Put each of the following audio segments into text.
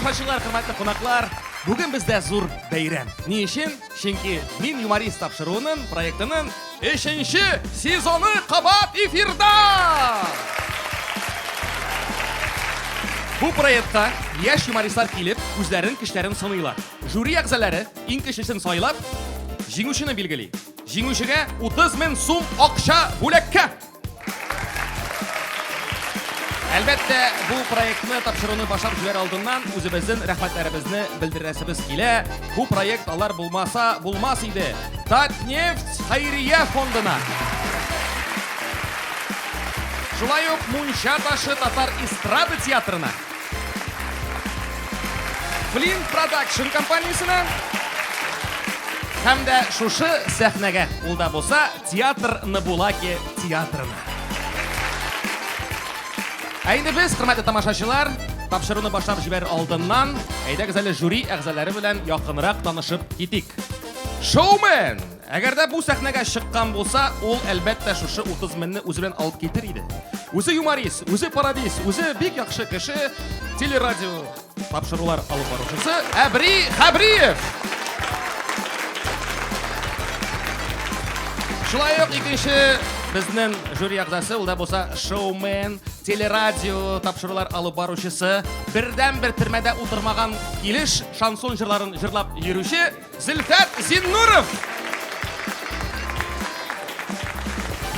тамашачылар, хөрмәтле кунаклар, бүген бездә зур бәйрәм. Ни өчен? Чөнки Мин юморист тапшыруының проектының 3нче сезоны кабат эфирда! Бу проектта яшь юмористлар килеп, үзләрен кешеләрен сыныйлар. Жюри әгъзалары иң кешесен сайлап, җиңүчене билгели. Җиңүчегә 30 мең сум акча бүләккә! Әлбәттә, бу проектны тапшыруны башлап җибәр алдыннан үзебезнең рәхмәтләребезне белдерәсебез килә. Бу проект алар булмаса булмас иде. Татнефть хәйрия фондына. Шулай ук Мунча ташы татар эстрада театрына. Flint Production компаниясенә һәм дә шушы сәхнәгә ул да булса театр Набулаки театрына. Ә инде без, хөрмәтле тамашачылар, тапшыруны башлап җибәр алдыннан, әйдәгез әле жюри әгъзалары белән якынрак танышып китик. Шоумен! Әгәр дә бу сәхнәгә чыккан булса, ул әлбәттә шушы 30 меңне үзе белән алып китер иде. Үзе юморист, үзе пародист, үзе бик яхшы кеше, телерадио тапшырулар алып баручысы Әбри Хәбриев. Шулай ук икенче безнең жюри әгъзасы, ул да булса шоумен, телерадио тапшырулар алып баручысы, бердән-бер төрмәдә утырмаган килеш шансон җырларын җырлап йөрүче Зөлфәт Зиннуров!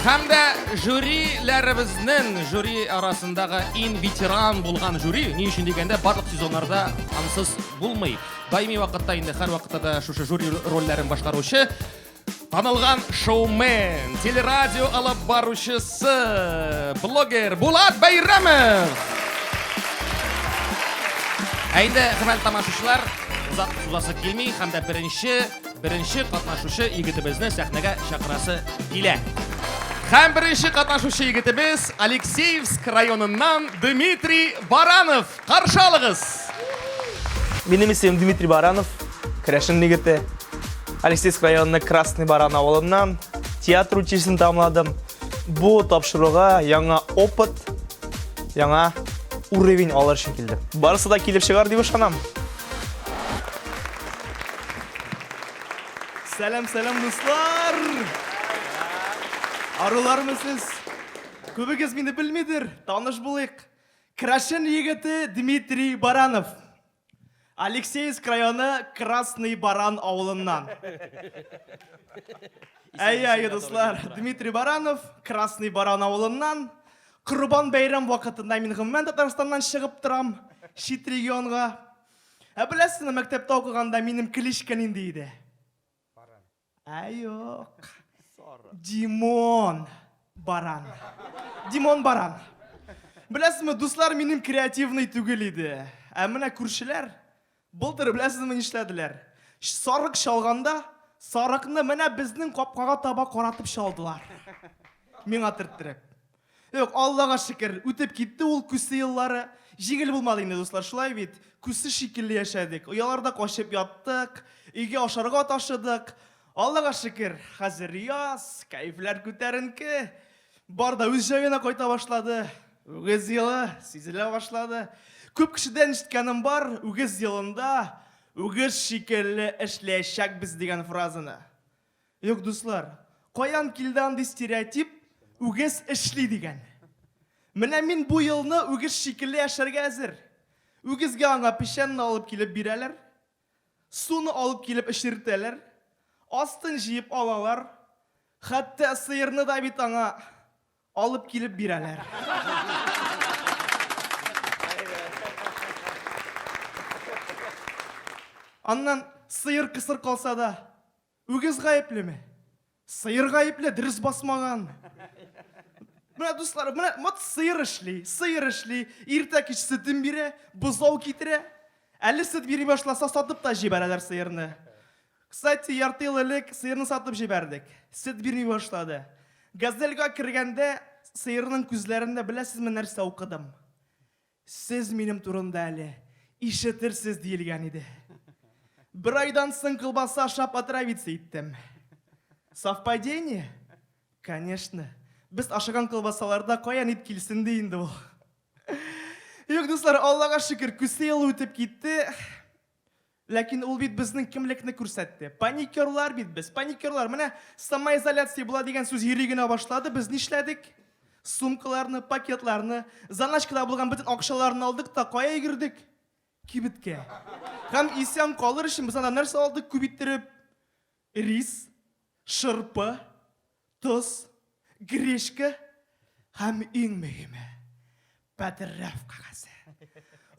Һәм дә жюриләребезнең жюри арасындагы иң ветеран булган жюри, ни өчен дигәндә, барлык сезоннарда ансыз булмый. Даими вакытта инде һәр вакытта да шушы жюри рольләрен башкаручы Танылган шоумен, телерадио алып баручысы, блогер Булат Бәйрәмов. Ә инде, хөрмәтле тамашачылар, озак сузасы килми һәм дә беренче, беренче катнашучы егетебезне сәхнәгә чакырасы килә. Һәм беренче катнашучы егетебез Алексеевск районыннан Дмитрий Баранов. Каршы алыгыз! Минем исемем Дмитрий Баранов, Керәшен егете. Алексеевск районының Красный Баран авылыннан театр училищесын тамамладым. Бу тапшыруга яңа опыт, яңа уровень алыр өчен килдем. Барысы да килеп чыгар дип ышанам. Сәлам, сәлам, дуслар! Арулармы сез? Күбегез мине белмидер, таныш булыйк. Крашен егете Дмитрий Баранов. Алексеевск районы Красный Баран авылыннан. Әйе, әйе, дуслар, Дмитрий Баранов, Красный Баран авылыннан. Корбан бәйрәм вакытында мин гомумән Татарстаннан чыгып торам, чит регионга. Ә беләсезме, мәктәптә укыганда минем кличка нинди иде? Ә юк. Димон баран. Димон баран. Беләсезме, дуслар минем креативный түгел иде. Ә менә күршеләр былтыр беләсезме нишләделәр? Сарык чалганда, сарыкны менә безнең капкага таба каратып чалдылар. Миңа төрттереп. Юк, Аллага шөкер, үтеп китте ул күсе еллары. Җиңел булмады инде, дуслар, шулай бит. Күсе шикелле яшәдек, ояларда качып яттык, өйгә ашарга ташыдык. Аллага шөкер, хәзер яз, кәефләр күтәренке. Бар да үз җаена кайта башлады. Үгез елы сизелә башлады. Күп кешедән ишеткәнем бар, үгез елында үгез шикелле эшләячәкбез дигән фразаны. Юк, дуслар, каян килде андый стереотип, үгез эшли дигән? Менә мин бу елны үгез шикелле яшәргә әзер. Үгезгә аңа печәнне алып килеп бирәләр, суны алып килеп эчертәләр, астын җыеп алалар, хәтта сыерны да бит аңа Алып килеп бирәләр. Аннан сыер кысыр калса да, үгез гаеплеме? Сыер гаепле, дөрес басмаган. Менә дуслар, менә вот сыер эшли, сыер эшли, иртә кич сөтен бирә, бозау китерә. Әле сөт бирми башласа, сатып та җибәрәләр сыерны. Кстати, ярты ел элек сыерны сатып җибәрдек. Сөт бирми башлады. Газельга кергәндә, сыерның күзләрендә беләсезме нәрсә укыдым? Сез минем турында әле ишетерсез диелгән иде. Бер айдан соң колбаса ашап отравиться иттем. Совпадение? Конечно. Без ашаган колбасаларда каян ит килсен ди инде ул. Юк, дуслар, Аллага шөкер, күсе елы үтеп китте. Ләкин ул бит безнең кемлекне күрсәтте. Паникерлар бит без, паникерлар. Менә самоизоляция була дигән сүз йөри генә башлады, без нишләдек? Сумкаларны, пакетларны, заначкада булган бөтен акчаларны алдык та кая йөгердек? Кибеткә. Һәм исән калыр өчен без анда нәрсә алдык? Күп иттереп, Рис, шырпы, тоз, гречка һәм иң мөһиме, потрав кагазе.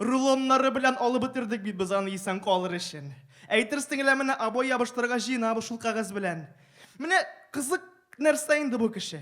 Рулоннары белән алып бетердек бит без аны исән калыр өчен. Әйтерсең лә менә обой ябыштырырга җыенабыз шул кәгазь белән. Менә кызык нәрсә инде бу кеше.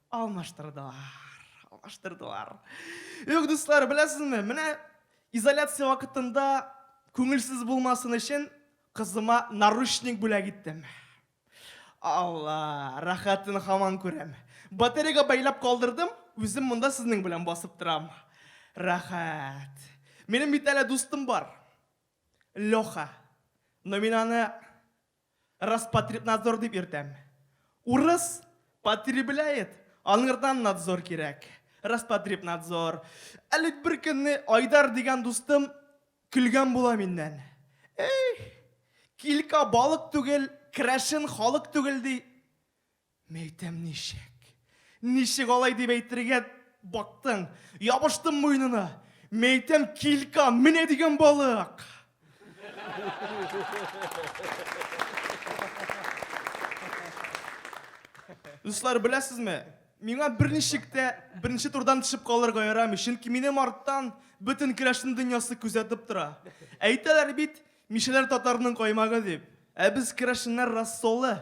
Алмаштырдылар. Алмаштырдылар. Юк, дуслар, беләсезме, менә изоляция вакытында күңелсез булмасын өчен кызыма наручник бүләк иттем. Алла, рәхәтен хаман күрәм. Батареяга бәйләп калдырдым, үзем монда сезнең белән басып торам. Рәхәт. Минем бит әле дустым бар. Леха. Но мин аны Роспотребнадзор дип йөртәм. Урыс потребляет, аңырдан надзор кирәк. Роспотребнадзор. Әле беркөнне Айдар дигән дустым көлгән була миннән. Эх, килька балык түгел, крәшен халык түгел, ди. Мин әйтәм, ничек? Ничек алай дип әйтергә бактың? Ябыштым муенына. Мин әйтәм, килька, менә дигән балык. Дуслар, беләсезме, миңа берничек тә беренче турдан төшеп калырга ярамый, чөнки минем арттан бөтен керәшен дөньясы күзәтеп тора. Әйтәләр бит, мишәләр татарның каймагы дип. Ә без керәшеннәр рассолы.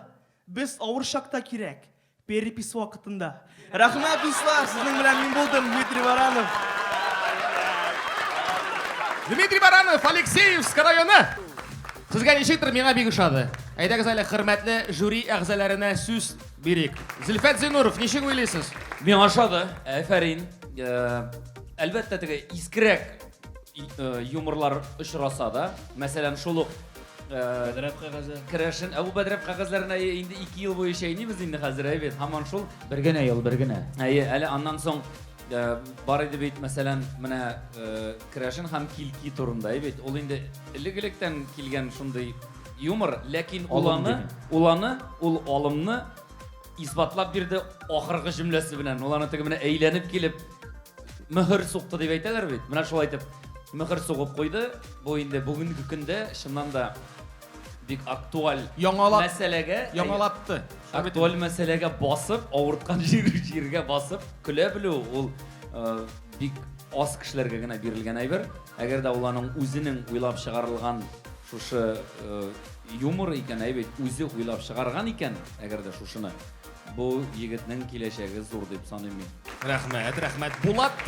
Без авыр чакта кирәк. Перепись вакытында. Рәхмәт, дуслар! Сезнең белән мин булдым, Дмитрий Баранов. Дмитрий Баранов, Алексеевск районы. Сезгә ничектер миңа бик ошады. Әйдәгез әле хөрмәтле жюри әгъзаларына сүз бирик. Зилфәт Зинуров, ничек уйлыйсыз? Миңа ошады. Әфәрин. Э, әлбәттә теге искрәк э, юморлар очраса да, мәсәлән, шул ук Бәдрәп кәгазе. Керәшен. Ә бу бәдрәп кәгазьләрен әйе инде 2 ел буе чәйнибез инде хәзер әйе бит. Һаман шул. Бер генә ел, бер генә. Әйе, әле аннан соң э, бар иде бит, мәсәлән, менә э, керәшен һәм килки турында әйе бит. Ул инде элек-электән килгән шундый юмор, ләкин Алым уланы, дигән. уланы, ул алымны Исбатлап бирде ахыргы җөмләсе белән. Ул аны теге менә әйләнеп килеп мөһер сукты дип әйтәләр бит. Менә шулай итеп мөһер сугып куйды. Бу инде бүгенге көндә чыннан да бик актуаль Яңалап- мәсьәләгә Яңалатты. актуаль мәсьәләгә басып, авырткан җир, җиргә басып көлә белү ул э, бик аз кешеләргә генә бирелгән әйбер. Әгәр дә ул аның үзенең уйлап чыгарылган шушы э, Юмор икән әй бит, үзе уйлап чыгарган икән, әгәр дә шушыны. Бу егетнең киләчәге зур дип саныйм мин. Рәхмәт, рәхмәт. Булат,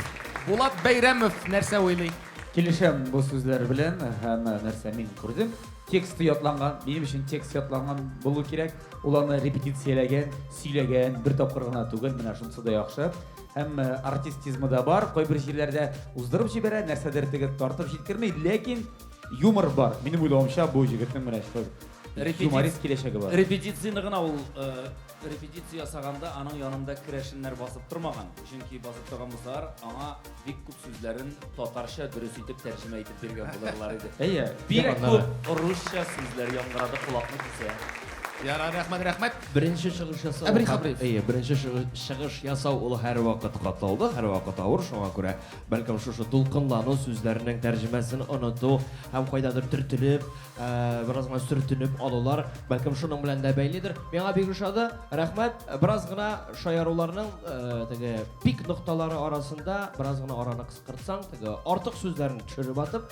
Булат Бәйрәмов нәрсә уйлый? Килешәм бу сүзләр белән һәм нәрсә мин күрдем, тексты ятланган, минем өчен текст ятланган булу кирәк, ул аны репетицияләгән, сөйләгән, бер тапкыр гына түгел, менә шунысы да яхшы. Һәм артистизмы да бар, кайбер җирләрдә уздырып җибәрә, нәрсәдер тегеп тартып җиткерми, ләкин Юмор бар, минем уйлавымча бу җегетнең менә шулай Репетиц- юморист киләчәге бар. Репетицияне гына ул э, репетиция ясаганда аның янында керәшеннәр басып тормаган. Чөнки басып торган булсалар, аңа бик күп сүзләрен татарча дөрес итеп тәрҗемә итеп биргән булырлар иде. Әйе, Бик тема күп аннары. русча сүзләр яңгырады, колакны кисә. Ярар, рәхмәт, рәхмәт. Беренче чыгыш ясау. Әмир Хәбриев. Әйе, беренче чыгы- чыгыш ясау ул һәрвакыт катлаулы, һәрвакыт авыр, шуңа күрә Бәлкем шушы дулкынлану, сүзләрнең тәрҗемәсен оныту һәм кайдадыр төртелеп, бераз гына сөртенеп алулар, бәлкем шуның белән дә бәйледер. Миңа бик ошады. Рәхмәт. Бераз гына шаяруларның теге пик нокталары арасында бераз гына араны кыскартсаң, теге артык сүзләрне төшереп атып,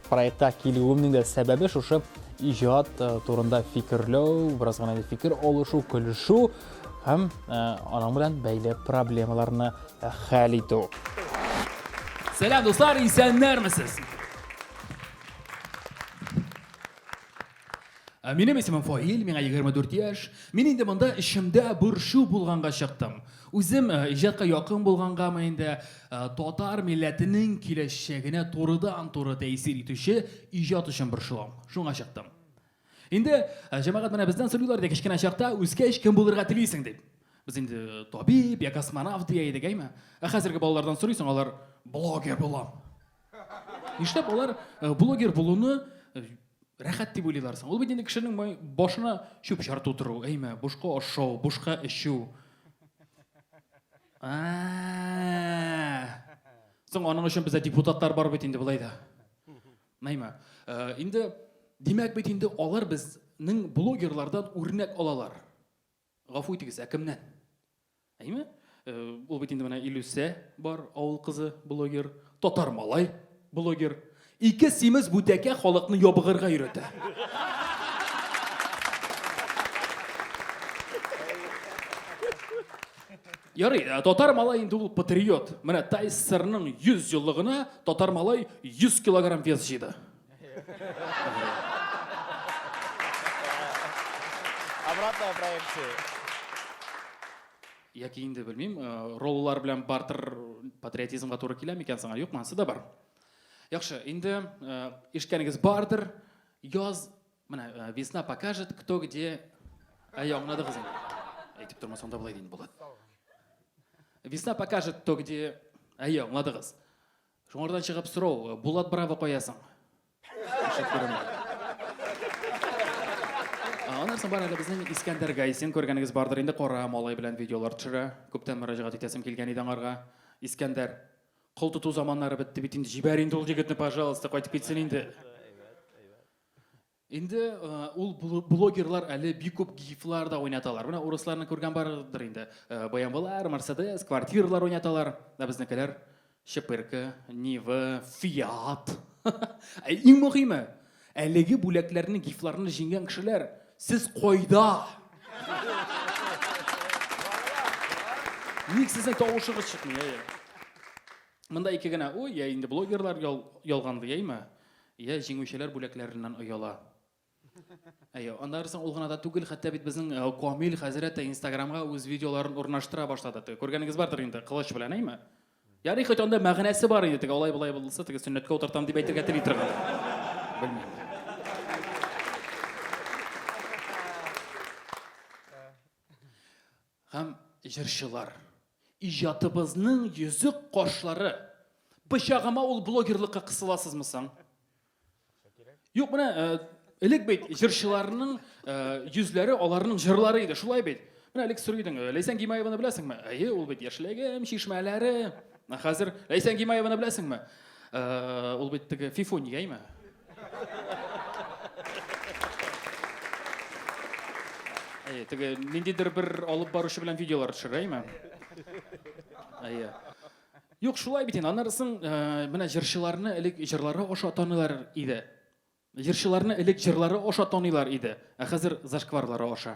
Проектка килүемнең дә сәбәбе шушы иҗат турында фикерләү, бераз гына фикер алышу, көлешү һәм аның белән бәйле проблемаларны хәл итү. Сәлам, дуслар, исәннәрмесез? Ә минем исемем Фаил, миңа 24 яшь. Мин инде монда эчемдә борчу булганга чыктым. Үзем э, иҗатка якын булгангамы инде э, татар милләтенең киләчәгенә турыдан-туры тәэсир итүче иҗат өчен борчылам. Шуңа чыктым. Инде э, җәмәгать менә бездән сорыйлар иде кечкенә чакта үскәч кем булырга телисең дип. Без инде табиб я космонавт дия идек, әйме? Ә хәзерге балалардан сорыйсың, алар блогер булам. Нишләп алар блогер булуны рәхәт дип уйлыйлар соң. Ул бит инде кешенең башына чүп чар тутыру, әйме, бушка ашау, бушка эчү. Соң аның өчен бездә депутатлар бар бит инде былай да. Әйме. Э, инде димәк бит инде алар безнең блогерлардан үрнәк алалар. Гафу итегез, ә кемнән? Әйме? Э, ул бит инде менә Илүсә бар, авыл кызы, блогер, татар малай, блогер. Ике симез бүтәкә халыкны ябыгырга өйрәтә. Ярый, э, татар малай инде ул патриот. Менә Тайсырның 100 еллыгына татар малай 100 килограмм вес җыйды. Обратная проекция. Яки инде белмим, роллар белән бартер патриотизмга туры килә микән соң? Юкмы, ансы да бар. Яхшы, инде ишеткәнегез бардыр, яз, менә весна покажет, кто где. Әйе, аңладыгыз инде. Әйтеп тормасаң да болай ди инде Булат. Весна покажет, кто где. Әйе, аңладыгыз. Шуңардан чыгып сорау, Булат Браво кая соң? Аннан соң бар әле безнең Искәндәр Гайсин, күргәнегез бардыр инде, кара малай белән видеолар төшерә. Күптән мөрәҗәгать итәсем килгән иде аңарга. Искәндәр, кол тоту заманнары бетте бит инде, җибәр инде ул егетне, пожалуйста, кайтып китсен инде. Инде ул блогерлар әле бик күп гифлар да уйнаталар. Менә урысларны күргән бардыр инде. Баямбалар, Мерседес, квартиралар уйнаталар. Да безнекеләр Шепырка, Нива, Фиат. Ә иң мөһиме, әлеге бүләкләрне, гифларны җиңгән кешеләр, сез кайда? Ник сезнең тавышыгыз чыкмый, әйе? Монда ике генә уй, я инде блогерлар ялганды, яме? Йә, җиңүчеләр бүләкләреннән ояла. Әйе, аннары соң ул гына да түгел, хәтта бит безнең э, Камил хәзрәт тә Инстаграмга үз видеоларын урнаштыра башлады. Теге күргәнегез бардыр инде, кылыч белән, әйме? Ярый, хоть анда мәгънәсе бар инде, теге алай болай булса, теге сөннәткә утыртам дип әйтергә тели торган. Белмим. Һәм җырчылар. Иҗатыбызның йөзек кашлары. Пычагыма ул блогерлыкка кысыласызмы соң? Юк, менә элек бит җырчыларның йөзләре аларның җырлары иде, шулай бит. Менә элек сорый идең, Ләйсән Гимаеваны беләсеңме? Әйе, ул бит яшьлегем, чишмәләре. Хәзер Ләйсән Гимаеваны беләсеңме? Ул бит теге Фифуньяймы? Әйе, теге ниндидер бер алып баручы белән видеолар төшерә, әйме? Әйе. Юк, шулай бит инде. Аннары соң э, менә җырчыларны элек җырлары аша таныйлар иде. Җырчыларны элек җырлары аша таныйлар иде, ә хәзер зашкварлары аша.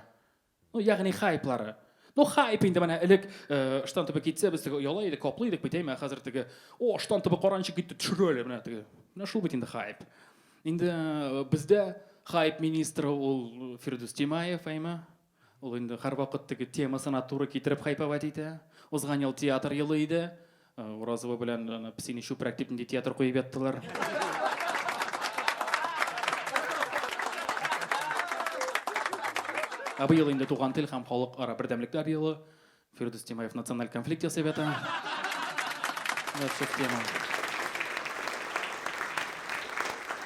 Ну, ягъни хайплары. Ну, хайп инде менә элек э, штан төбе китсә, без теге ояла идек, каплый идек бит, әйме, хәзер теге, о, штан төбе каранчы китте, төшерәле, менә теге. Менә шул бит инде хайп. Инде э, бездә хайп министры ул э, Фирдүс Тимаев, әйме. Ул инде һәрвакыт теге темасына туры китереп хайповать итә. Узган ел театр елы иде. Уразова белән аны псине чүпрәк дип нинди театр куеп яттылар. Ә быел инде туган тел һәм халык ара бердәмлекләр елы. Фирдүс Тимаев националь конфликт ясый бит.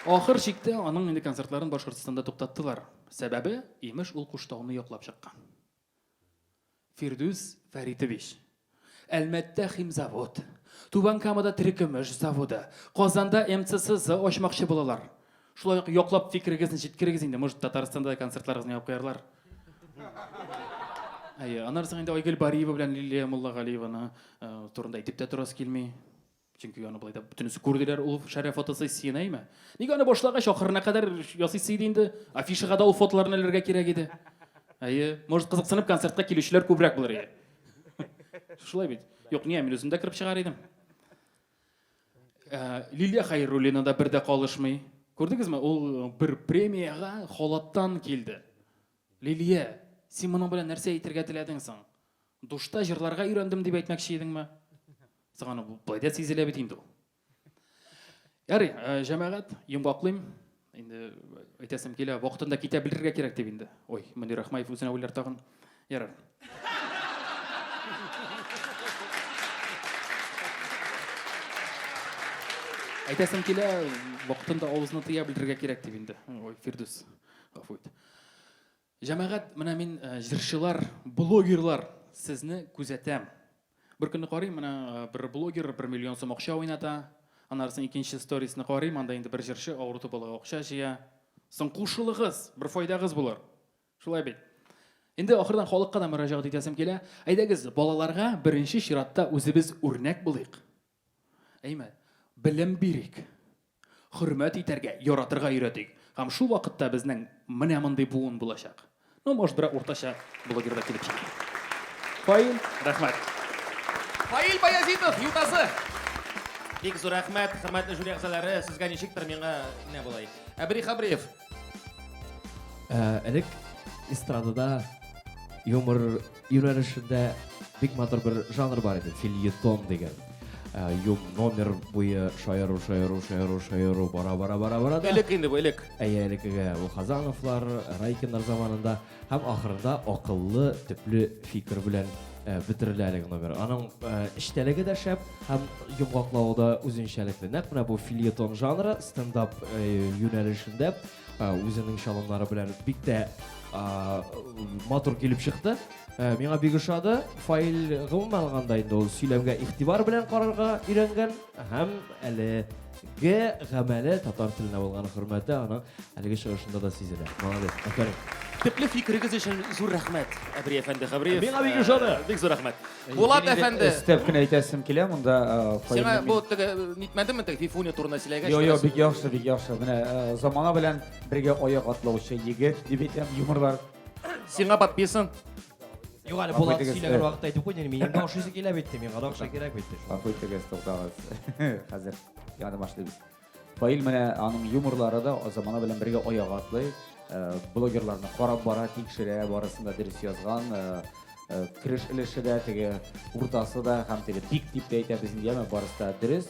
Ахыр чиктә аның инде концертларын Башкортстанда туктаттылар. Сәбәбе, имеш, ул Куштауны яклап чыккан. Фирдүс Фәритович, Әлмәттә химзавод, Түбән Камада терекөмеш заводы, Казанда МЦСЗ ачмакчы булалар. Шулай ук яклап фикерегезне җиткерегез инде, может Татарстанда да концертларыгызны яп куярлар. Әйе, аннары соң инде Айгөл Бариева белән Лилия Муллагалиеваны э, турында әйтеп тә торасы килми. Чөнки аны болай да бөтенесе күрделәр ул шәрә фотосессияне, әйме? Нигә аны башлагач ахырына кадәр ясыйсы иде инде? Афишага да ул фотоларны эләргә кирәк иде. Әйе, может кызыксынып концертка килүчеләр күбрәк булыр иде. Шулай бит. Юк, не, мин үзем дә кереп чыгар идем. Ә, Лилия Хәйруллина да бер дә калышмый. Күрдегезме, ул бер премиягә халаттан килде. Лилия, син моның белән нәрсә әйтергә теләдең соң? Душта җырларга өйрәндем дип әйтмәкче идеңме? Соң аны былай да сизелә бит инде ул. Ярый, э, җәмәгать, йомгаклыйм. Инде әйтәсем килә, вакытында китә белергә кирәк дип инде. Ой, Мөнир Рахмаев үзенә уйлар тагын. Ярар. Әйтәсем килә, вакытында авызны тыя белергә кирәк дип инде. Ой, Фирдүс, гафу ит. Җәмәгать, менә мин җырчылар, блогерлар сезне күзәтәм. Бер көнне карыйм, менә бер блогер бер миллион сум акча уйната. Аннарысын икенче сторисны карыйм, анда инде бер җырчы авырту балага акча җыя. Соң кушылыгыз, бер файдагыз булыр. Шулай бит. Инде ахырдан халыкка да мөрәҗәгать итәсем килә. Әйдәгез, балаларга беренче чиратта үзебез үрнәк булыйк. Әйме, белем бирик, хөрмәт итәргә, яратырга өйрәтик. Һәм шул вакытта безнең менә мондый буын булачак. Ну, может, берәр уртача блогер да килеп чыгар. Фаил, рәхмәт. Фаил Баязитов, Ютазы. Бик зур рәхмәт, хөрмәтле жюри әгъзалары, сезгә ничектер, миңа менә болай. Әбри Хабриев. Э, элек эстрадада юмор юнәлешендә бик матур бер жанр бар иде фильетон деген э, юм номер буе шаяру шаяру шаяру шаяру бара бара бара бара да элек инде бу элек әйе элекеге ул хазановлар райкиннар заманында Һәм ахырында акыллы, төпле фикер белән э, бетерелә әлеге номер. Аның э, эчтәлеге дә шәп һәм йомгаклавы да үзенчәлекле. Нәкъ менә бу фильетон жанры стендап э, юнәлешендә э, үзенең чалымнары белән бик тә э, матур килеп чыкты. Э, миңа бик ошады. Фаил гомумән алганда инде ул сөйләмгә игътибар белән карарга өйрәнгән. Һәм әлеге гамәле татар теленә булган хөрмәте аның әлеге чыгышында да сизелә. Молодец. Афәрин. Төпле фикерегез өчен зур рәхмәт, Әбри әфәнде Хәбриев. Миңа бик ошады. Э, бик зур рәхмәт. Э, Булат әфәнде. Өстәп кенә әйтәсем килә монда. Э, Сиңа бу теге нитмәдеме теге Фифуня турында сөйләгәч? Йо, йо, бик яхшы, бик яхшы. Менә замана белән бергә аяк атлаучы егет дип әйтәм, юморлар. Сиңа подписан. Юк әле Булат сөйләгән вакытта әйтеп куйдың, минем дә ашыйсы килә бит, миңа да акча кирәк бит. Гафу итегез, туктагыз. Хәзер яны башлыйбыз. Фаил менә аның юморлары да замана белән бергә аяк атлый. Э, блогерларны карап бара, тикшерә, барысын да дөрес язган. Э, э, Креш өлеше дә, теге уртасы да һәм теге тик дип тә әйтә безнең яме барысы да дөрес.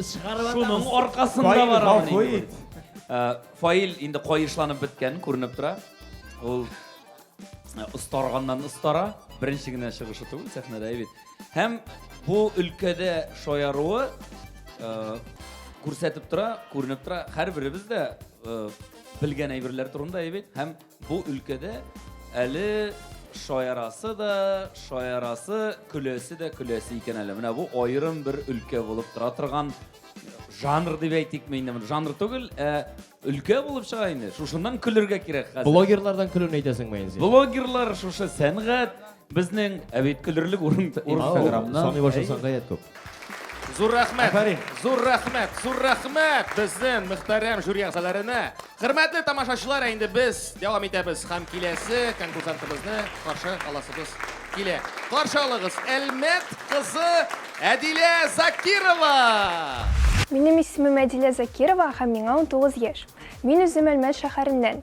Шуның аркасында барамын инде. Фаил инде каешланып беткән күренеп тора. Ул остарганнан остара, беренче генә чыгышы түгел сәхнәдә бит. Һәм бу өлкәдә шаяруы күрсәтеп тора, күренеп тора. Һәрберебез дә белгән әйберләр турында әйбит һәм Бу өлкәдә әле шаярасы да, шаярасы, көләсе дә көләсе икән әле. Менә бу аерым бер өлкә булып тора торган жанр дип әйтикме инде моны. Жанр түгел, ә өлкә булып чыга инде. Шушыннан көлергә кирәк хәзер. Блогерлардан көлүне әйтәсеңме инде? Блогерлар шушы сәнгать, Безнең Ә бит көлерлек урын Инстаграмнан. Саный башласаң гаять күп. Зур рәхмәт. Афәрин. Зур рәхмәт. Зур рәхмәт безнең мөхтәрәм жюри әгъзаларына. Хөрмәтле тамашачылар, ә инде без дәвам итәбез һәм киләсе конкурсантыбызны каршы аласыбыз килә. Каршы алыгыз, Әлмәт кызы Әдилә Закирова! Минем исемем Әдилә Закирова һәм миңа 19 яшь. Мин үзем Әлмәт шәһәреннән.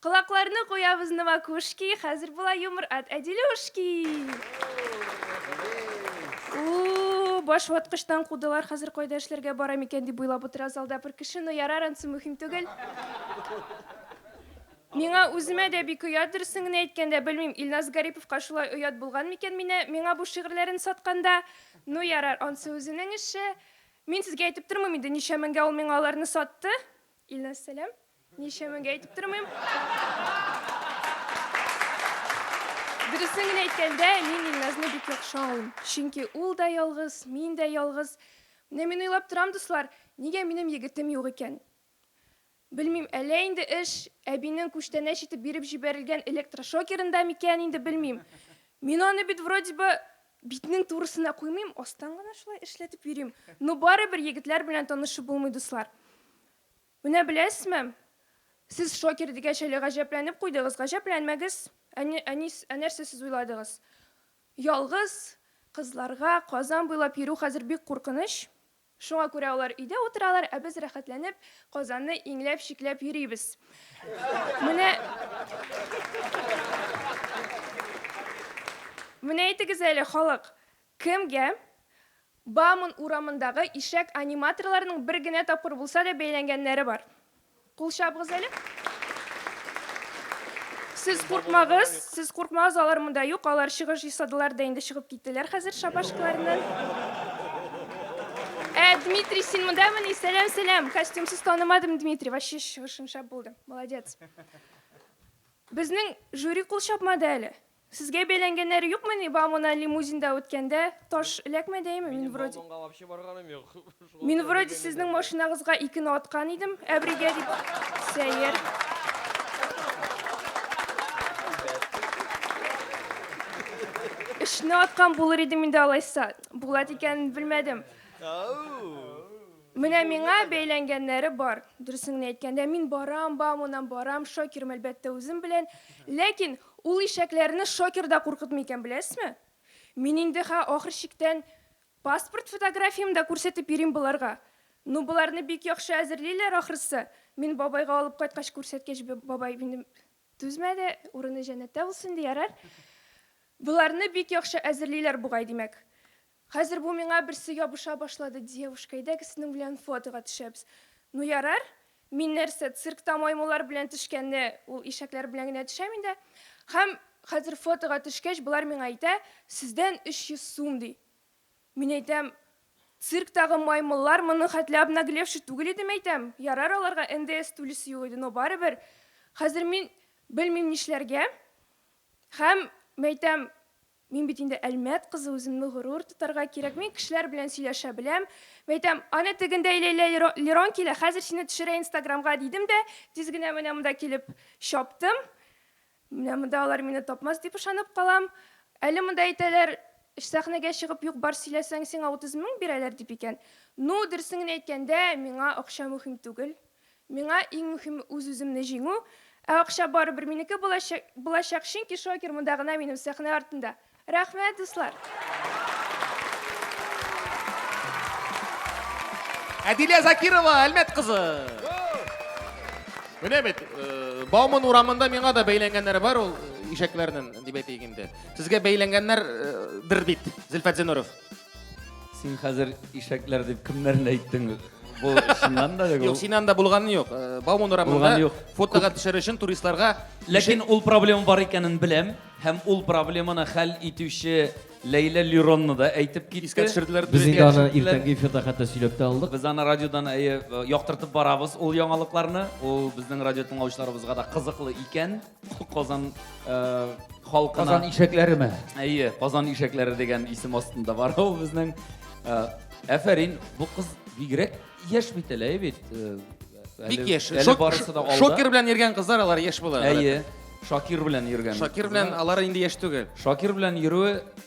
Колакларны куябыз Новокушки, хәзер була юмор от Әдилюшки. Уу, баш ваткычтан кудылар, хәзер кайда эшләргә бара микән дип уйлап утыра залда бер кеше, но ярар, ансы мөһим түгел. Миңа үземә дә бик оят, дөресен генә әйткәндә, белмим, Илназ Гариповка шулай оят булган микән минә, миңа бу шигырьләрен сатканда, ну ярар, ансы үзенең эше. Мин сезгә әйтеп тормыйм инде, ничә меңгә ул миңа аларны сатты. Илназ, сәлам. Ничә меңгә әйтеп тормыйм. Дөресен генә әйткәндә, мин Илназны бик яхшы аңлыйм. Чөнки ул да ялгыз, мин дә ялгыз. Менә мин уйлап торам, дуслар, нигә минем егетем юк икән? Белмим, әллә инде эш әбинең күчтәнәч итеп биреп җибәрелгән электрошокерында микән инде, белмим. Мин аны бит вроде бы Битнең турысына куймыйм, астан гына шулай эшләтеп йөрим. Но барыбер егетләр белән танышып булмый, дуслар. Менә беләсезме, сез шокер дигәч әле гаҗәпләнеп куйдыгыз, гаҗәпләнмәгез. Ә, ә, ә нәрсә сез уйладыгыз? Ялгыз кызларга Казан буйлап йөрү хәзер бик куркыныч. Шуңа күрә алар өйдә утыралар, ә без рәхәтләнеп Казанны иңләп-чикләп йөрибез. Менә Менә әйтегез әле, халык, кемгә Бауман урамындагы ишәк аниматорларының бер генә тапкыр булса да бәйләнгәннәре бар? Кул чабыгыз әле. Сез куркмагыз, сез куркмагыз, алар монда юк, алар чыгыш ясадылар да инде чыгып киттеләр хәзер шабашкаларны. Ә Дмитрий, син мондамыни? Сәлам, сәлам. Костюмсыз танымадым, Дмитрий. Вообще чыгышың шәп булды. Молодец. Безнең жюри кул чапмады әле. Сезгә бәйләнгәннәре юкмыни ба мона лимузинда үткәндә таш эләкмәдәеме мин вроде мин вроде сезнең машинагызга икене аткан идем әбригә дип сәер өчне аткан булыр идем инде алайса булат икәнен белмәдем менә миңа бәйләнгәннәре бар дөресеңне әйткәндә мин барам ба моннан барам шокерым әлбәттә үзем белән ләкин Ул ишәкләрне шокер да куркытмый икән, беләсезме? Мин инде хә ахыр чиктән паспорт фотографиямне дә күрсәтеп йөрим боларга. Ну, боларны бик яхшы әзерлиләр, ахрысы. Мин бабайга алып кайткач күрсәткәч, бабай минем түзмәде, урыны җәннәттә булсын инде, ярар. Боларны бик яхшы әзерлиләр бугай, димәк. Хәзер бу миңа берсе ябыша башлады, девушка, әйдәгез синең белән фотога төшәбез. Ну ярар, мин нәрсә, циркта маймыллар белән төшкәнне ул ишәкләр белән генә төшәм инде. Һәм хәзер фотога төшкәч, болар миңа әйтә, сездән 300 сум, ди. Мин әйтәм, цирктагы маймыллар моны хәтле обнаглевший түгел иде, мәйтәм, ярар аларга НДС түлисе юк иде, но барыбер. Хәзер мин белмим нишләргә. Һәм, мәйтәм, Мин бит инде Әлмәт кызы, үземне горур тотарга кирәк. Мин кешеләр белән сөйләшә беләм. Мәйтәм, Аны тегендәй Ләйлә Лерон килә, хәзер сине төшерә инстаграмга, дидем дә, тиз генә менә монда килеп чаптым. Менә монда алар мине тапмас дип ышанып калам. Әле монда әйтәләр, Сәхнәгә чыгып юк-бар сөйләсәң, сиңа 30 мең бирәләр, дип икән. Ну, дөресен генә әйткәндә, миңа акча мөһим түгел. Миңа иң мөхиме үз-үземне җиңү, ә акча барыбер минеке булачак, чөнки Шокер монда гына минем сәхнә артында. Рәхмәт, дуслар! Әдилә Закирова, Әлмәт кызы! Менә бит, Бауман урамында миңа да бәйләнгәннәре бар ул ишәкләрнен, дип әйтик инде. Сезгә бәйләнгәннәр дер бит, Зөлфәт Зинуров? Син хәзер ишәкләр дип кемнәрне әйттең? Бу чыннан да юк. Юк, син анда булганы юк. Э, Бауман урамында фотога төшер өчен туристларга Ләкин ул проблема бар икәнен беләм һәм ул проблеманы хәл итүче Ләйлә Лиронны да әйтеп китте. Искә төшерделәр. Без инде аны иртәнге эфирда хәтта сөйләп тә алдык. Без аны радиодан әйе яктыртып барабыз ул яңалыкларны. Ул безнең радио тыңлаучыларыбызга да кызыклы икән. Казан халкына... Казан ишәкләре ме? Әйе, Казан ишәкләре дигән исем астында бар ул безнең. Әфәрин, бу кыз бигрәк яшь бит әле, бит. Бик яшь. Шокер белән йөргән кызлар алар яшь була. Әйе. Шакир белән йөргән. Шакир белән алар инде яшь түгел. Шакир белән йөрүе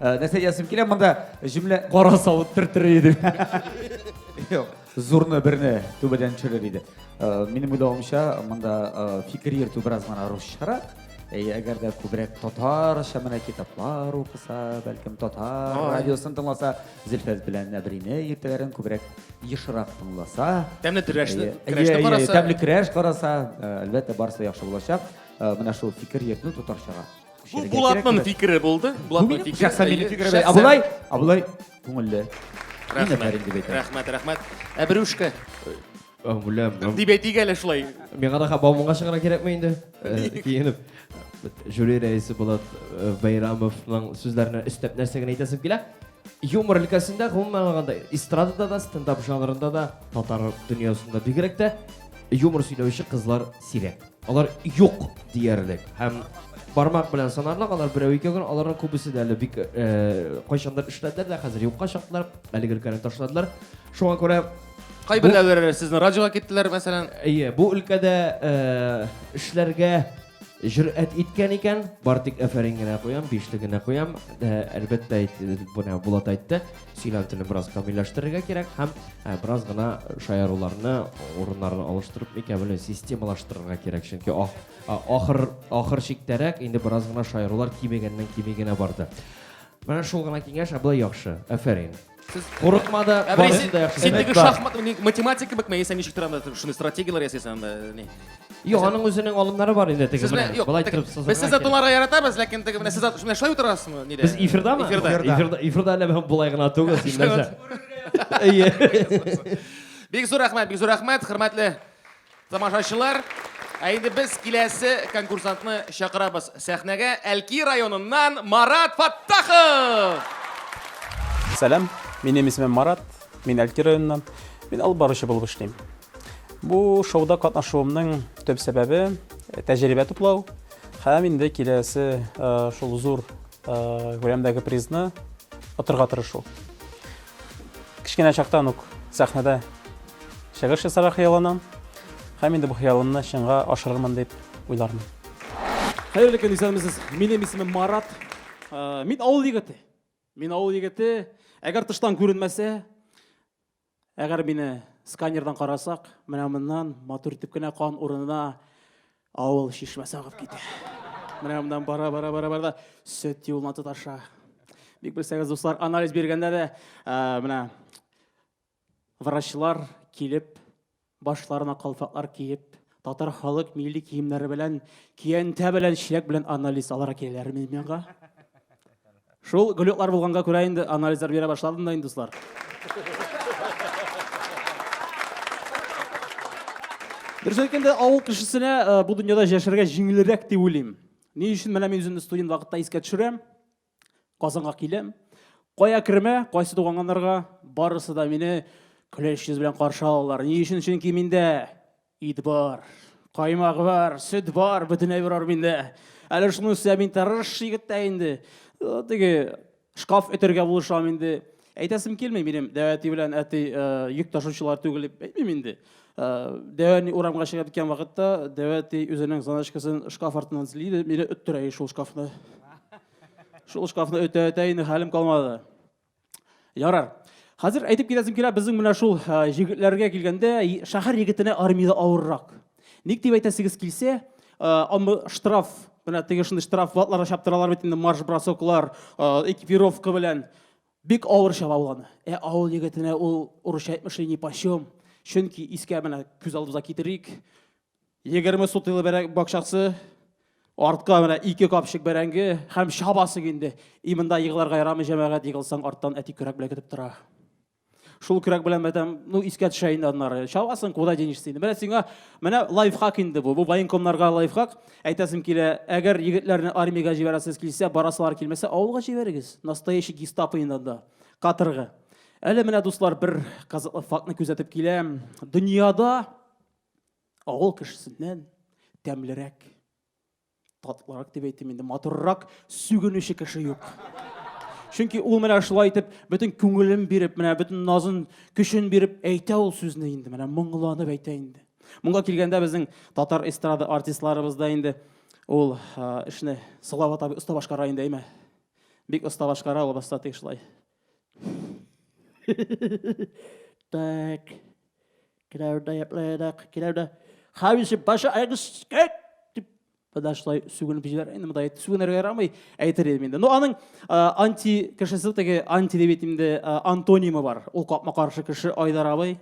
Э, нәрсә язым килә монда җөмлә кара савыт төртер иде юк зурны берне түбәдән төшерер иде э, минем уйлавымча монда э, фикер йөртү бераз гына русчарак әгәр дә күбрәк татарча менә китаплар укыса бәлкем татар радиосын тыңласа зөлфәт белән нәбрине иртәләрен күбрәк ешрак тыңласа тәмле трәшне караса тәмле крәш караса әлбәттә барысы яхшы булачак менә шул фикер йөртү татарчага Бу Булатның фикере булды. Булатның фикере. Шәхсән минем фикере. Абулай, Абулай күңелле. Рәхмәт. Рәхмәт, рәхмәт. Ә Брюшка? Бүләм. Дип әйтик әле шулай. Миңа да хабамыңа чыгара кирәкме инде? Киенеп. Жюри рәисе Булат Байрамовның сүзләренә өстәп нәрсә генә әйтәсем килә? Юмор өлкәсендә, гомумән алганда, эстрадада да, стендап жанрында да, татар дөньясында бигрәк тә юмор сөйләүче кызлар сирәк. Алар юк диярлек. Һәм бармак белән санарлык, алар берәү икәү генә, аларның күбесе дә әле бик э, кайчандыр эшләделәр дә, хәзер юкка чыктылар, әлеге өлкәне ташладылар. Шуңа күрә Кайберләре сезнең радиога киттеләр, мәсәлән. Әйе, бу өлкәдә э, эшләргә Җөрәт иткән икән, бар тик әфәрин генә куям, бишле генә куям. Э, әлбәттә, менә Булат әйтте, сөйләм телен бераз камилләштерергә кирәк һәм э, бераз гына шаяруларны, урыннарын алыштырып микән белмим, системалаштырырга кирәк. Чөнки ахыр ахыр чиктәрәк инде бераз гына шаярулар кимегәннән кими генә барды. Менә шул гына киңәш, ә болай яхшы. Әфәрин. Сез курыкма да, барысын да яхшы. Син теге шахмат, математика бик мәйсә ничек тора анда, шуны стратегияләр ясыйсың анда, ни? Юк, аның үзенең алымнары бар инде теге менә. Болай торып сызырга. Без сездә тулара яратабыз, ләкин теге менә сездә шуны шулай утырасызмы, нидә? Без эфирдамы? Эфирда. Эфирда әле бу болай гына түгел, син нәрсә? Әйе. Бик зур рәхмәт, бик зур рәхмәт, хөрмәтле Тамашачылар, ә инде без киләсе конкурсантны чакырабыз сәхнәгә. Әлки районыннан Марат Фаттахов! Сәлам, минем исемем Марат, мин Әлки районыннан. Мин алып баручы булып эшлим. Бу шоуда катнашуымның төп сәбәбе тәҗрибә туплау һәм инде киләсе шул зур күләмдәге призны отырга тырышу. Кечкенә чактан ук сәхнәдә чыгыш ясарга хыялланам. Һәм инде бу хыялымны чынга ашырырмын дип уйлармын. Хәерле көн, исәнмесез. Минем исемем Марат. Э, мин авыл егете. Мин авыл егете. Әгәр тыштан күренмәсә, әгәр мине сканердан карасак, менә моннан матур итеп кенә кан урынына Авыл чишмәсе агып китә. Менә моннан бара, бара, бара, бара да сөт юлына тоташа. Бик белсәгез, дуслар, анализ биргәндә дә ә, менә врачлар килеп, башларына калфаклар киеп, татар халык милли киемнәре белән, киянтә белән, чиләк белән анализ алара киләләр миңа. Шул глюклар булганга күрә инде анализлар бирә башладым да инде, дуслар. Дөрес әйткәндә, авыл кешесенә э, бу дөньяда яшәргә җиңелрәк дип уйлыйм. Ни өчен менә мин үземне студент вакытта искә төшерәм, Казанга киләм. Кая кермә, кайсы туганганнарга барысы да мине көләч йөз белән каршы алалар. Ни өчен? Чөнки миндә Ит бар, каймак бар, сөт бар, бөтенләй бар миндә. Әле шуны үсә мин тырыш егет тә инде. Теге шкаф өтергә булышам инде. Әйтәсем килми минем дәвәти белән әти йөк ташучылар түгел дип әйтмим инде. Дәвәни урамга чыгып киткән вакытта дәвәти үзенең заначкасын шкаф артыннан злиде, мине өттерә шул шкафны. Шул шкафны өтә-өтә инде хәлем калмады. Ярар. Хәзер әйтеп китәсем килә, безнең менә шул җегетләргә килгәндә, шәһәр егетенә армиядә авыррак. Ник дип әйтәсегез килсә, аны штраф, менә теге шундый штраф ватларга чаптыралар бит инде марш бросоклар, экипировка белән бик авыр чаба ул аны. Ә авыл егетенә ул урысча әйтмешли ни почем. Чөнки искә менә күз алдыбызга китерик, Егерме сутыйлы бәрәңге бакчасы, артка менә ике капчык бәрәңге һәм чабасы инде. И монда егыларга ярамый җәмәгать, егылсаң арттан әти көрәк белән көтеп тора. Шул көрәк белән мәтәм, ну искә төшә инде аннары. Чабасын куда денешся инде. Менә сиңа, менә лайфхак инде бу. Бу военкомнарга лайфхак. Әйтәсем килә, әгәр егетләрне армиягә җибәрәсез килсә, барасылар килмәсә, авылга җибәрегез. Настоящий гестапо инде анда. Каторга. Әле менә дуслар бер казатлы фактны күзәтеп киләм. Дөньяда Авыл кешесеннән тәмлерәк, татлырак дип әйтим инде, матуррак сүгенүче кеше юк. Чөнки ул менә шулай итеп, бөтен күңелен биреп, менә бөтен назын, көчен биреп әйтә ул сүзне инде, менә моңланып әйтә инде. Моңа килгәндә безнең татар эстрада артистларыбыз да инде ул эшне Салават абый оста башкара инде, әйме? Бик оста башкара ул баста тиешлай. Так. Киләүдә яплайдак, киләүдә. Хависе башы айгыс кәк дип подошлай сүгенеп җибәрә. Инде монда сүгенергә ярамый, әйтер идем инде. Ну аның анти кешесе теге анти дип әйтим инде антонимы бар. Ул капма каршы кеше Айдар абый.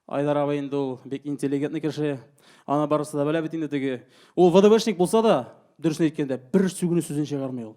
Айдар абый инде ул бик интеллигентный кеше. Аны барысы да белә бит инде теге. Ул ВДВшник булса да, дөресен әйткәндә, бер сүгенү сүзен чыгармый ул.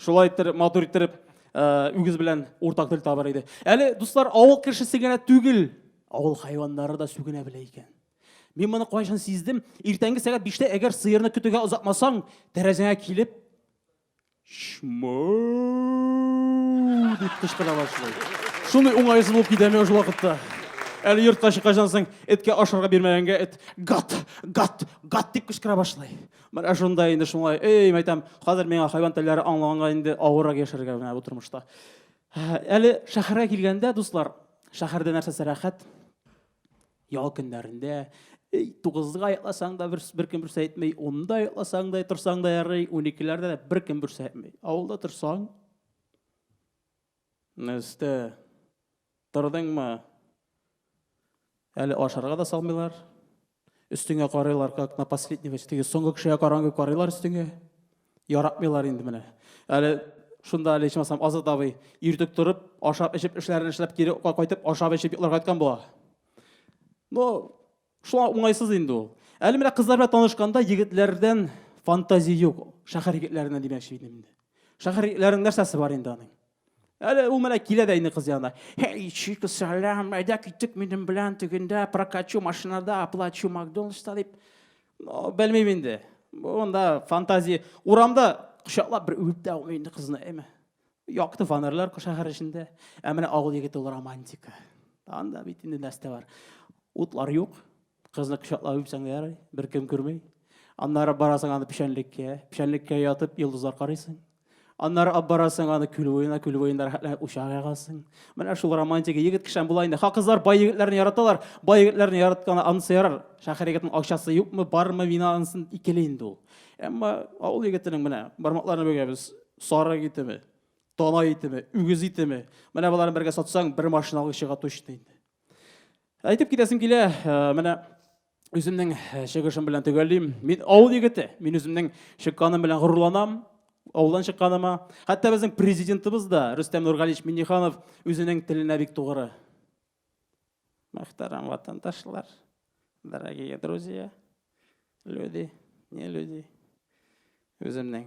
Шулай иттереп, матур иттереп, э, үгез белән уртак тел табар иде. Әле, дуслар, авыл кешесе генә түгел, авыл хайваннары да сүгенә белә икән. Мин моны кайчан сиздем? Иртәнге сәгать 5-тә әгәр сыерны көтүгә озатмасаң, тәрәзәңә килеп шмау дип кычкыра башлый. Шундый уңайсыз булып китә миңа шул вакытта. Әле йортка чыкканнан соң эткә ашарга бирмәгәнгә эт гат, гат, гат дип кычкыра башлый. Менә шунда инде шулай, эй, мәйтәм, хәзер миңа хайван телләре аңлаганга инде авыррак яшәргә менә бу тормышта. Әле шәһәргә килгәндә, дуслар, шәһәрдә нәрсәсе рәхәт? Ял көннәрендә, эй, тугызга йокласаң да бер, бер кем берсе әйтми, унда йокласаң да, торсаң да ярый, уникеләрдә дә бер кем берсе әйтми. Авылда торсаң, Нәрсә? Тордыңмы? Әле ашарга да салмыйлар. Өстеңә карыйлар, как на последнего, өстеңә соңгы кешегә карангы карыйлар өстеңә. Яратмыйлар инде менә. Әле шунда әле ичмасам Азат абый иртүк торып, ашап-эчеп, эшләрен эшләп, кире кайтып, ашап-эчеп йокларга яткан була. Ну, Шуңа уңайсыз инде ул. Әле менә кызлар белән танышканда егетләрдән фантазия юк. Шәһәр егетләренә димәкче идем инде. Шәһәр егетләренең нәрсәсе бар инде аның? Әле ул менә килә дә инде кыз янына. Хей, чик сәлам, әйдә киттек минем белән тегендә прокачу машинада, оплачу Макдональдста дип. Ну, белмим инде. Монда фантазия. Урамда кочаклап бер үбеп тә алмый инде кызны, әйме? Якты фонарьлар шәһәр эчендә. Ә менә авыл егете ул романтика. Анда бит инде нәрсә бар. Утлар юк. Кызны кочаклап үпсәң дә ярый, беркем күрми. Аннары барасың аны печәнлеккә, печәнлеккә ятып йолдызлар карыйсың. Аннары алып барасың аны күл буена, күл буенда рәхәтләнеп учак ягасың. Менә шул романтика. Егет кешән була инде. Ха кызлар бай егетләрне яраталар. Бай егетләрне яратканы анысы ярар. Шәһәр егетенең акчасы юкмы, бармы, мина ансын икели инде ул. Әмма авыл егетенең менә бармакларны бөгәбез. Сарык итеме, тана итеме, үгез итеме. Менә боларын бергә сатсаң, бер машина алып чыга точно инде. Әйтеп китәсем килә, э, менә үземнең э, чыгышым белән төгәллим. Мин авыл егете, мин үземнең чыкканым белән горурланам ауылдан чыкканыма. Хәтта безнең президентыбыз да, Рөстәм Нургалич Минниханов, үзенең теленә бик тугры. Мәхтәрәм ватандашлар, дорогие друзья, люди, не люди. Үземнең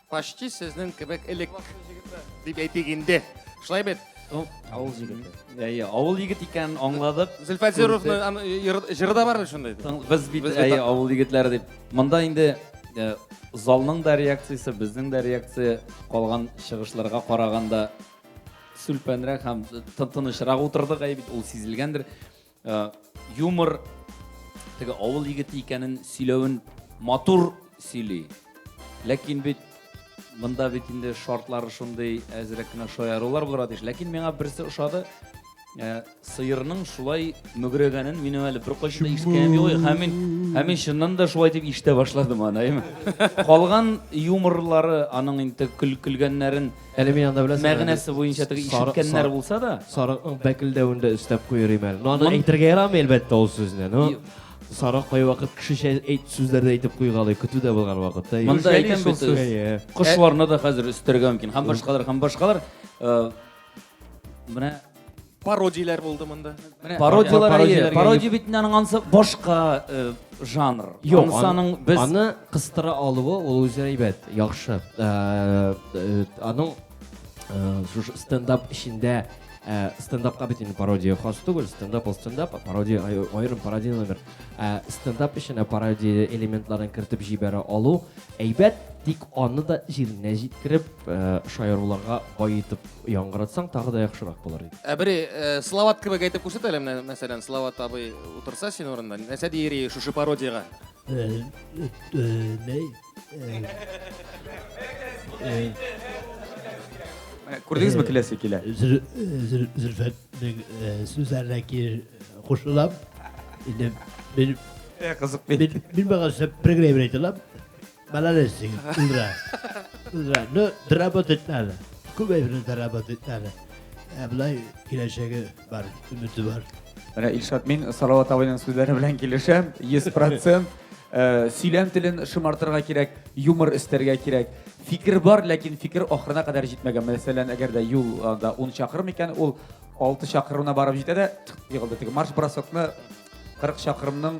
Почти сезнең кебек элек дип әйтик инде. Шулай бит? Ну, авыл егете. Әйе, авыл егет икән аңладык. Зөлфәзировны җыры да бар шундай. Без бит әйе авыл егетләре дип. Монда инде э, залның да реакциясе, безнең дә реакция калган чыгышларга караганда сүлпәнрәк һәм тынычрак утырдык, әйе бит, ул сизелгәндер. Э, юмор теге авыл егете икәнен сөйләвен матур сөйли ләкин бит монда бит инде шартлары шундый әзрәк кенә шаярулар булырга тиеш ләкин миңа берсе ошады э, сыерның шулай мөгрәгәнен мин әле беркайчан да ишеткәнем юк һәм мин һәм мин чыннан да шулай дип ишетә башладым аны калган юморлары аның инде көлгәннәрен Әле мин анда беләсең. Мәгънәсе буенча теге ишеткәннәр булса да. Сарыкның бәкелдәвен дә өстәп куер име әле. Ну аны әйтергә ярамый әлбәттә ул сүзне. Ну Сарык кай вакыт кешечә әйт сүзләрдә әйтеп куйгалый, көтү дә булган вакытта. Монда әйтәм бит сүз. Кошларны да хәзер өстәргә мөмкин. Һәм башкалар, һәм башкалар. Менә Пародияләр булды монда. Пародияләр әйе. Пародия бит аның ансы башка э, жанр. Юк, аның без аны кыстыра алуы ул үзе әйбәт, яхшы. Э, э, аның шушы стендап эчендә Э, стендапка бит инде пародия хас түгел стендап ол стендап пародия аерым пародия номер э, стендап эченә пародия элементларын кертеп җибәрә алу әйбәт тик аны да җиренә җиткереп э, шаяруларга баетып Яңгыратсаң тагы да яхшырак булыр иде. Ә бер э, Салават кебек әйтеп күрсәт әле менә, мәсәлән, Салават абый утырса син урында, нәрсә дияр иде шушы пародиягә? Э, э, не? Э, э, Менә Күрдегезме киләсе килә? Зөл- э, Зөл- Зөлфәтнең э, сүзләренә ки- кушылам. Инде мин Ә, Кызык бит. мин мин бага сөп программа әйтәләм. Молодец, Зигит, Ильдар. Ильдар, ну, доработать надо. Күбәйберне доработать надо. Ә былай киләчәге бар, өмете бар. Менә Илшат, мин Салават абыйның сүзләре белән килешәм. 100% э, сөйләм телен шымартырга кирәк, юмор өстәргә кирәк. Фикер бар, ләкин фикер ахырына кадәр җитмәгән. Мәсәлән, әгәр дә юлда 10 чакрым икән, ул 6 чакрымына барып җитә дә, егылды. Теге марш-бросокны 40 чакрымның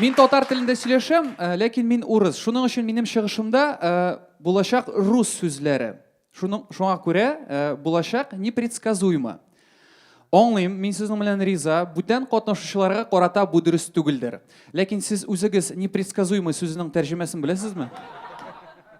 Мин татар телендә сөйләшәм, э, ләкин мин урыс. Шуның өчен минем чыгышымда э, булачак рус сүзләре. Шуның, шуңа күрә э, булачак непредсказуемо. Аңлыйм, мин сезнең белән риза, бүтән катнашучыларга карата бу дөрес түгелдер. Ләкин сез үзегез непредсказуемо сүзенең тәрҗемәсен беләсезме?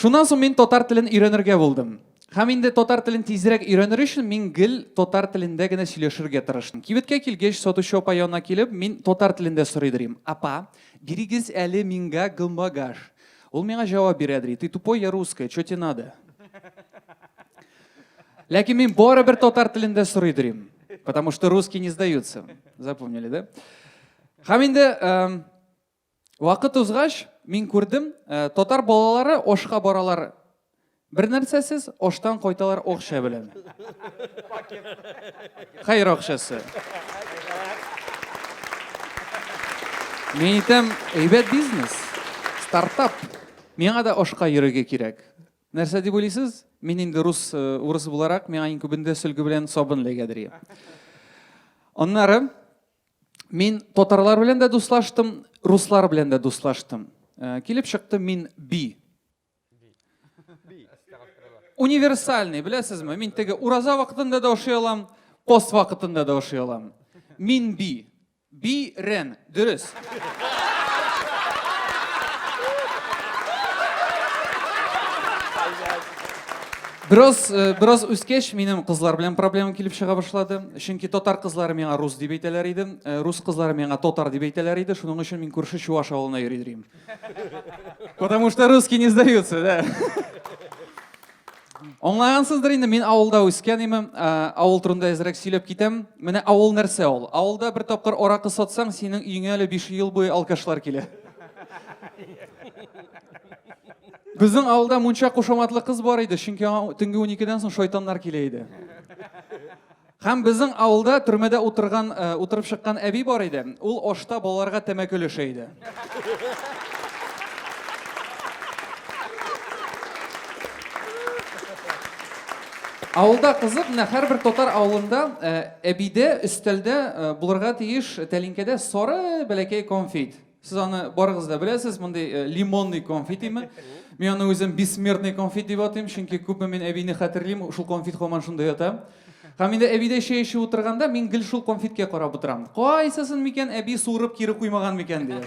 Шуннан соң мин татар телен өйрәнергә булдым. Һәм инде татар телен тизрәк өйрәнер өчен мин гел татар телендә генә сөйләшергә тырыштым. Кибеткә килгәч, сатучы апа янына килеп, мин татар телендә сорыйдырим, Апа, бирегез әле миңга гмбагаж. Ул миңа җавап бирәдри, Ты тупой, я русская, чё те надо? Ләкин мин барыбер татар телендә сорыйдырим. Потому что русские не сдаются. Запомнили, да? Һәм инде Вакыт узгач, мин күрдем, э, татар балалары ашка баралар бер нәрсәсез, аштан кайталар акча белән. Хәер акчасы. Мин әйтәм, әйбәт бизнес, стартап. Миңа да ашка йөрергә кирәк. Нәрсә дип уйлыйсыз? Мин инде рус э, урысы буларак, миңа иң күбендә сөлге белән сабын эләгәдер. Аннары Мин татарлар белән дә дуслаштым, руслар белән дә дуслаштым. Э, килеп чыкты мин би. Универсальный, беләсезме? Мин теге ураза вакытында да ошый алам, пост вакытында да ошый алам. Мин би. Би рен, дөрес. Бераз, бераз үскәч, минем кызлар белән проблемам килеп чыга башлады. Чөнки татар кызлары миңа рус дип әйтәләр иде, рус кызлары миңа татар дип әйтәләр иде, шуның өчен мин күрше чуваш авылына йөри йөрим. Потому что русские не сдаются, да. Аңлагансыздыр инде, мин авылда үскән име, авыл турында әзрәк сөйләп китәм. Менә авыл нәрсә ул? Авылда бер тапкыр аракы сатсаң, синең өеңә әле 5 ел буе алкашлар килә. Безнең авылда мунча кушаматлы кыз бар иде, чөнки аңа төнге 12-дән соң шайтаннар килә иде. Һәм безнең авылда төрмәдә утырган, э, утырып чыккан әби бар иде. Ул ашта балаларга тәмәке өләшә иде. Авылда кызык, менә һәрбер татар авылында э, әбидә, өстәлдә э, булырга тиеш тәлинкәдә сары бәләкәй конфет. Сез аны барыгыз да беләсез, мондый э, лимонный конфит име? Мин аны үзем бессмертный конфит дип атыйм, чөнки күпме мин әбине хәтерлим, шул конфит һаман шунда ята. Һәм инде әбидә чәй эчеп утырганда мин гел шул конфиткә карап утырам. Кайсысын микән әби суырып кире куймаган микән дия.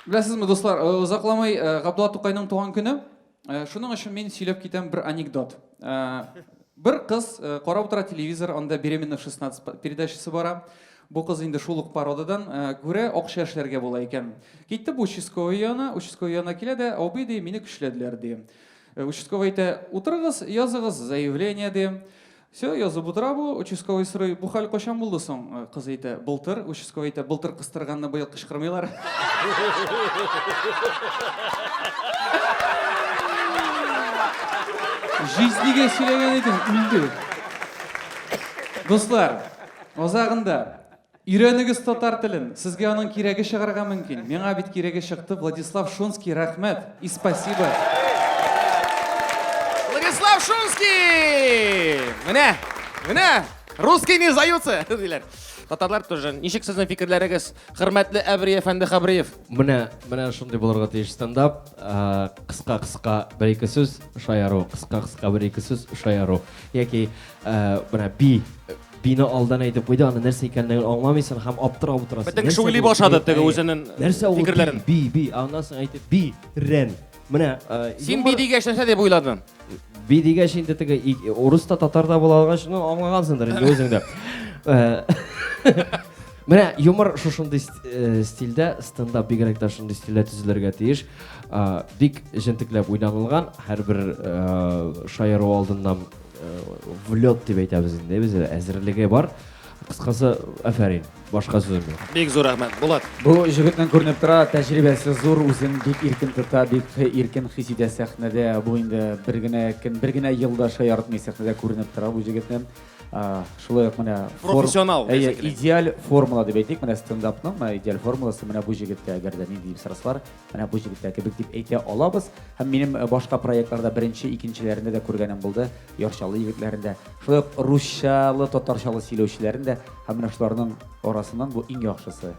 Беләсезме, дуслар, э, озакламый э, Габдулла Тукайның туган көне. Э, шуның өчен мин сөйләп китәм бер анекдот. Э, бер кыз э, карап утыра телевизор, анда беременна 16 передачасы бара. Бу кыз инде шул ук пародадан күрә акча эшләргә була икән. Китте бу участковый яна, участковый яна килә дә, абый ди, мине көчләделәр ди. Участковый әйтә, утырыгыз, языгыз заявление ди. Все, язып утыра бу, участковый сорый, бу хәл кайчан булды соң? Э, Кыз әйтә, былтыр, участковый әйтә, былтыр кыстырганны быел кычкырмыйлар. Җизнигә сөйләгән идем, үлде. Дуслар, азагында Өйрәнегез татар телен, сезгә аның кирәге чыгарга мөмкин. Миңа бит кирәге чыкты, Владислав Шунский, рәхмәт и спасибо. Владислав Шунский! Менә, менә, русский не сдаются, диләр. Татарлар тоже. Ничек сезнең фикерләрегез, хөрмәтле Әбри әфәнде Хабриев? Менә, менә шундый булырга тиеш стендап. Кыска-кыска бер-ике сүз шаяру, кыска-кыска бер-ике сүз шаяру. Яки менә би Бина алдан әйтеп куйды, аны нәрсә икәнлеген аңламыйсың һәм аптырап утырасың. Бөтен кеше уйлый башлады теге үзенең фикерләрен. Би, би, аннан соң әйтеп, би, рен. Менә Син би дигәч нәрсә дип уйладың? Би дигәч инде теге урыс та татар да була алгач, ну аңлагансыңдыр инде үзең дә. Менә юмор шушындый э, стильдә, стендап бигрәк тә шундый стильдә төзелергә тиеш. Бик җентекләп уйланылган, һәрбер э, шаяру алдыннан Влет дип әйтәбез инде без, әзерлеге бар. Кыскасы, афәрин. Башка сүзем юк. Бик зур рәхмәт, Булат. Бу җегетнең күренеп тора, тәҗрибәсе зур, үзен бик иркен тота, бик иркен хис итә сәхнәдә. Бу инде бер генә көн, бер генә елда шаяртмый сәхнәдә күренеп тора бу җегетнең. Шулай ук менә профессионал. Әйе, идеаль формула дип әйтик, менә стендапның менә идеаль формуласы менә бу җегеттә, әгәр дә нинди сырыслар Менә бу җегетләр кебек дип әйтә алабыз. Һәм минем э, башка проектларда беренче, икенчеләрендә дә күргәнем булды. Ярчалы егетләрен дә, шулай ук русчалы, татарчалы сөйләүчеләрен дә. Һәм менә шуларның арасыннан бу иң яхшысы.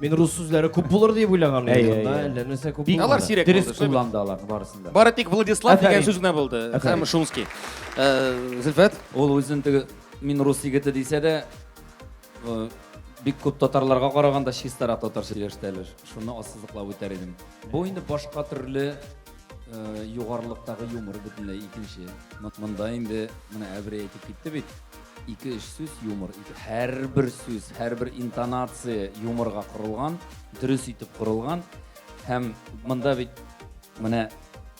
Мин рус сүзләре күп булыр дип уйлаган Әй, идем. әй, әй. Әллә нәрсә күп Бик Алар булмады. сирәк дөрес булды, шулай бит. кулланды аларның барысын да. Бары тик Владислав Афәрин. дигән сүз генә булды. Афәрин. Һәм Шумский. Э, Зөлфәт, Ул үзен теге мин рус егете дисә дә, бик күп татарларга караганда чистарак татарча сөйләштеләр. Шуны ассызыклап үтәр идем. Бу инде башка төрле э, югарылыктагы юмор бөтенләй икенче. Монда инде менә Әбри әйтеп китте бит. Ике өч сүз юмор. Һәрбер сүз, һәрбер интонация юморга корылган, дөрес итеп корылган. Һәм монда бит Менә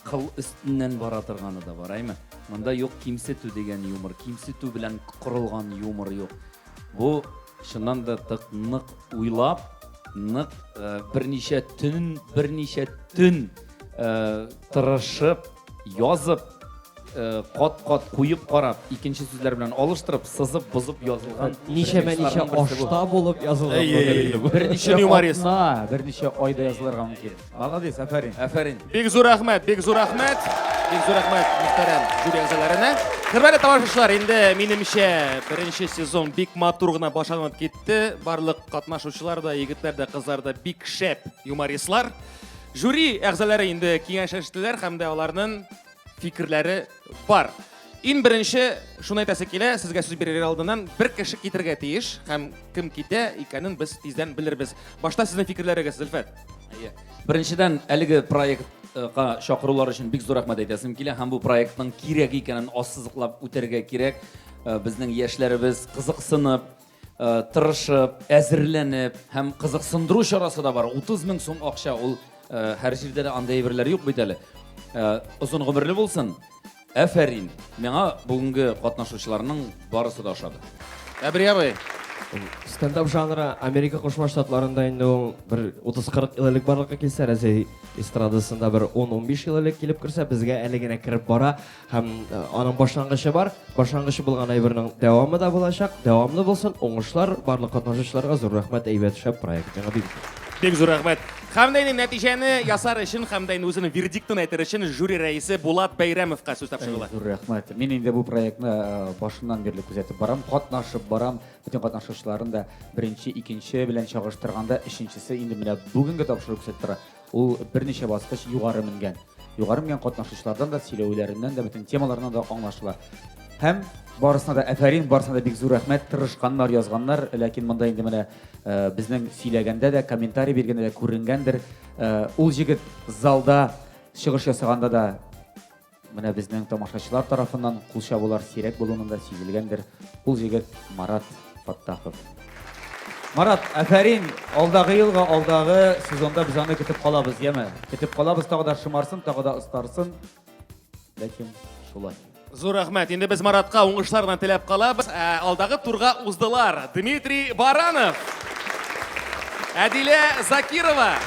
кыл өстеннән бара торганы да бар, әйме? Монда юк кимсетү дигән юмор, кимсетү белән корылган юмор юк. Бу, чыннан да, тык нык уйлап, нык берничә төн, берничә төн тырышып, язып, кат-кат куеп карап, икенче сүзләр белән алыштырып, сызып, бозып язылган. Ничәмә-ничә ашта булып язылган. Әйе, берничә атна, берничә айда язылырга мөмкин. Молодец, афәрин. Афәрин. Бик зур рәхмәт, бик зур рәхмәт. Бик зур рәхмәт мөхтәрәм жюри әгъзаларына. Хөрмәтле тамашачылар, инде минемчә беренче сезон бик матур гына башланып китте. Барлык катнашучылар да, егетләр дә, кызлар да бик шәп юмористлар. Жюри әгъзалары инде киңәш эштеләр һәм дә аларның фикерләре бар. Иң беренче шуны әйтәсе килә, сезгә сүз бирер алдыннан бер кеше китергә тиеш һәм кем китә икәнен без тиздән белербез. Башта сезнең фикерләрегез, Зөлфәт. Әйе. Беренчедән, әлеге проектка чакырулар өчен бик зур рәхмәт әйтәсем килә һәм бу проектның кирәк икәнен ассызыклап үтәргә кирәк. Э, безнең яшьләребез кызыксынып, Э, тырышып, әзерләнеп һәм кызыксындыру чарасы да бар. 30 мең сум акча ул э, һәр җирдә дә андай әйберләр юк бит әле. Э, озын гомерле булсын. Әфәрин. Миңа бүгенге катнашучыларның барысы да ошады. Әбри абый. Стендап жанры Америка Кушма Штатларында инде ул бер 30-40 ел элек барлыкка килсә, Рәсәй эстрадасында бер 10-15 ел элек килеп керсә, безгә әле генә кереп бара. һәм э, аның башлангычы бар. Башлангычы булган әйбернең дәвамы да булачак. Дәвамлы булсын, уңышлар барлык катнашучыларга зур рәхмәт әйбәт шәп проект. Яңа бик Бик зур рәхмәт. Һәм дә инде нәтиҗәне ясар өчен һәм дә инде үзенең вердиктын әйтер өчен жюри рәисе Булат Бәйрәмовка сүз тапшырыла. Зур рәхмәт. Мин инде бу проектны э, башыннан бирле күзәтеп барам, катнашып барам. Бүтән катнашучыларын да беренче, икенче белән чагыштырганда, өченчесе инде менә бүгенге тапшыру күзәтеп тора. Ул берничә баскыч югары менгән. Югары менгән катнашучылардан да, сөйләүләреннән дә, бөтен темаларыннан да аңлашыла. Һәм барысына да әфәрин, барысына да бик зур рәхмәт, тырышканнар, язганнар, ләкин монда инде менә э, безнең сөйләгәндә дә, комментарий биргәндә дә күренгәндер. Э, ул җегет залда чыгыш ясаганда да Менә безнең тамашачылар тарафыннан кул чабулар сирәк булуның да сизелгәндер. Ул җегет Марат Фаттахов. Марат, афәрин, алдагы елга, алдагы сезонда без аны көтеп калабыз, яме? Көтеп калабыз, тагы да шымарсын, тагы да остарсын. Ләкин шулай. Зур рәхмәт. Инде без Маратка уңышлар гына теләп калабыз. Ә, алдагы турга уздылар Дмитрий Баранов, Әдилә Закирова,